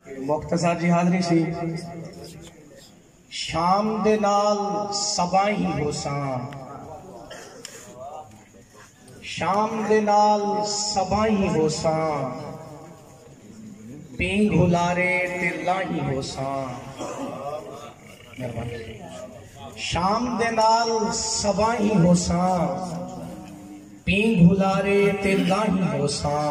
مختصر جی حاضری سی شام دے نال سبائی ہوساں شام دے نال سبائی ہوساں پینگ ہلارے تے لائی ہوساں شام دے نال سبائی ہوساں پینگ ہلارے تے لائی ہوساں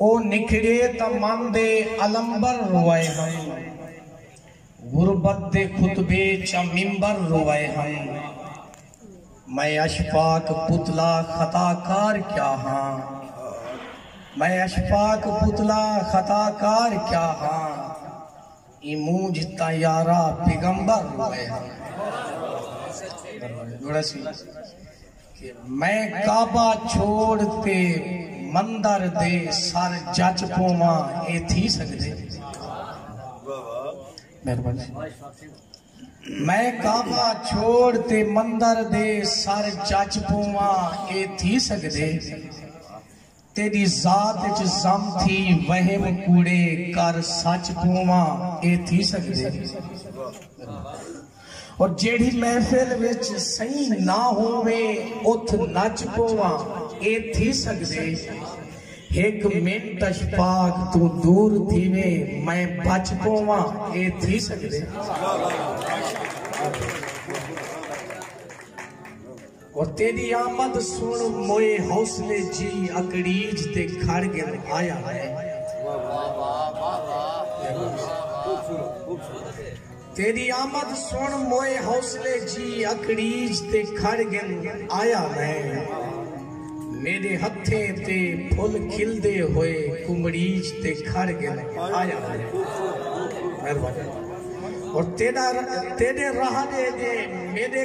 او نکھڑے تاں من دے علمبر روئے ہن غربت دے خطبے چا ممبر روئے ہن میں اشفاق پتلا خطا کار کیا ہاں میں اشفاق پتلا خطا کار کیا ہاں ایں مونجھ تاں یارا پیغمبر روئے ہن کہ میں کعبہ چھوڑ تے مندر دے سر جچ پوواں اے تھی سگدے؟ مہربانی میں کعبہ چھوڑ تے مندر دے سر جچ پوواں اے تھی سگدے؟ تیݙی ذات اچ ضم تھی وہم کوڑے کر سچ پوواں اے تھی سڳدے اور جیڑھی محفل وچ سئیں نہ ہووے اتھ نچ پوواں اے تھی سڳدے ہک منٹ اچ پاک توں دور تھیوے میں بچ پوواں اے تھی سڳدے۔ او تیݙی آمد سݨ موئے حوصلے جی اکڑیج تے کھڑ ڳن آیا میں۔ تیݙی آمد سݨ موئے حوصلے جی اکڑیج تے کھڑ ڳن آیا میں۔ میݙے ہتھیں تے پھل کھلدے ہوئے کمڑیج تے کھڑ ڳن آیا میں۔ او تیݙا تیݙے رہݙے دے میݙے۔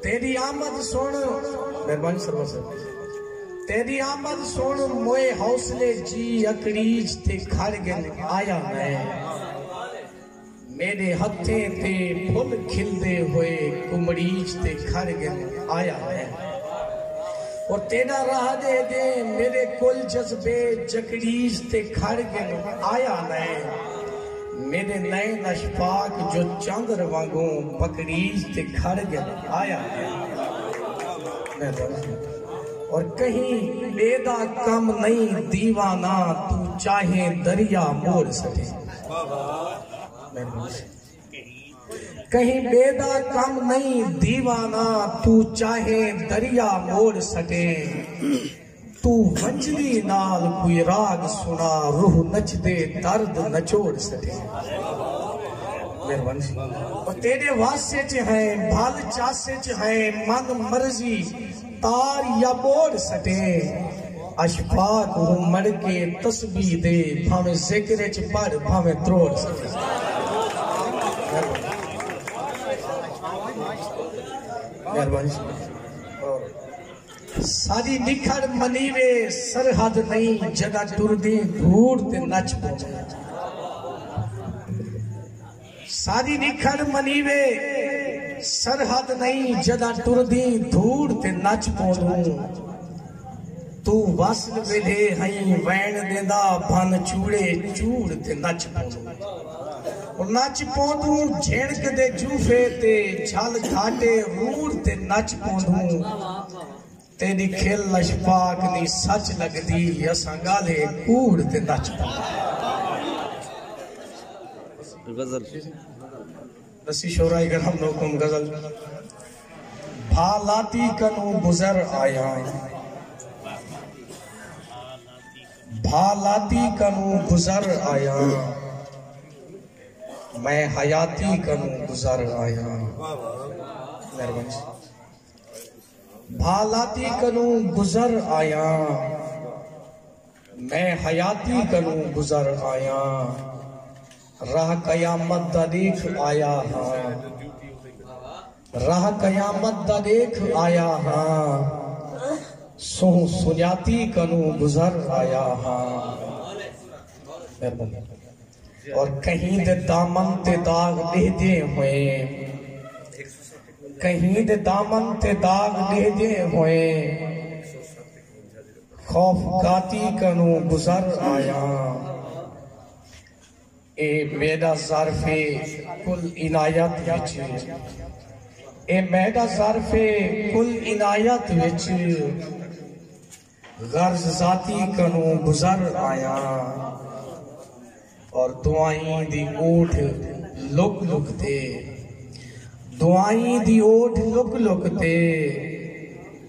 تیݙی آمد سݨ مہربانی سرور صاحب تیݙی آمد سݨ موئے حوصلے جی اکڑیج تے کھڑ گن آیا میں میݙے ہتھیں تے پھل کھلدے ہوئے کمڑیج تے کھڑ گن آیا میں او تیݙا راہ ݙے دے میݙے کل جذبے جکڑیج تے کھڑ گن آیا میں میݙے نئیں نش پاک جو چاندر وانگوں پکڑیج تے کھڑ ڳئے آیا میں بس اور کہیں ٻے دا کم نئیں دیوانہ تو چاہے دریا مول سٹے میں بس کہیں ٻے دا کم نئیں دیوانہ تو چاہے دریا مول سٹے توں ونجدی نال کوئی راگ سنا روح نچدے درد نچوڑ سٹے مہربانی او تیرے واسے چ ہیں بھل چاسے چ ہیں من مرضی تار یا بوڑ سٹے اشفاق ہوں مڑ کے تسبیح دے بھاویں ذکر چ پڑھ بھاویں تروڑ سٹے مہربانی ساݙی نکھڑ منی وے سرحد نئیں جݙاں ٹردیں گھوڑ تے نچ پوندے ساݙی نکھڑ منی وے سرحد نئیں جݙاں ٹردیں گھوڑ تے نچ پوندوں تو وصل ویلھے ہئیں وین ݙیندا بھن چوڑے چوڑ تے نچ پوندوں نچ پوندوں جھنڑک دے جوفے تے جھل گھاٹے روڑ تے نچ پوندوں تیڈی کھل اشفاق دی سچ لگدی اساں گالھے کوڑ تے نچ پوندوں بھا لاتی کنوں گزر آیاں بھا لاتی کنوں گزر آیاں میں حیاتی کنوں گزر آیاں بھا لاتی کنوں گزر آیاں میں حیاتی کنوں گزر آیاں راہ قیامت دا دیکھ آیا ہاں راہ قیامت دا ݙیکھ آیا ہاں سونہہ سنڄاتی کنوں گزر آیا ہاں اور کہیں دے دامن تے داغ ݙیہدے ہوئیں کہیں دے دامن تے داغ ڈیہدے ہوئے خوف گاتی کنوں گزر آیا اے میݙا ظرف اے کل عنایت وچ اے میݙا ظرف اے کل عنایت وچ غرض ذاتی کنوں گزر آیاں اور دعائیں دی اوٹ لک لک تے دعائیں دی اوٹ لک لک تے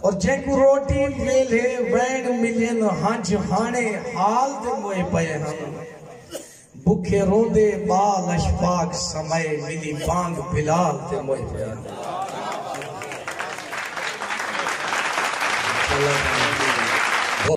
اور جینکوں روٹی ویلھے وینڑ ملے نہ ہنج ہانے حال دے موئے پئے ہن بکھے روندے بال اشفاق سمئے ملی بانگ بلال دے موئے پئے ہن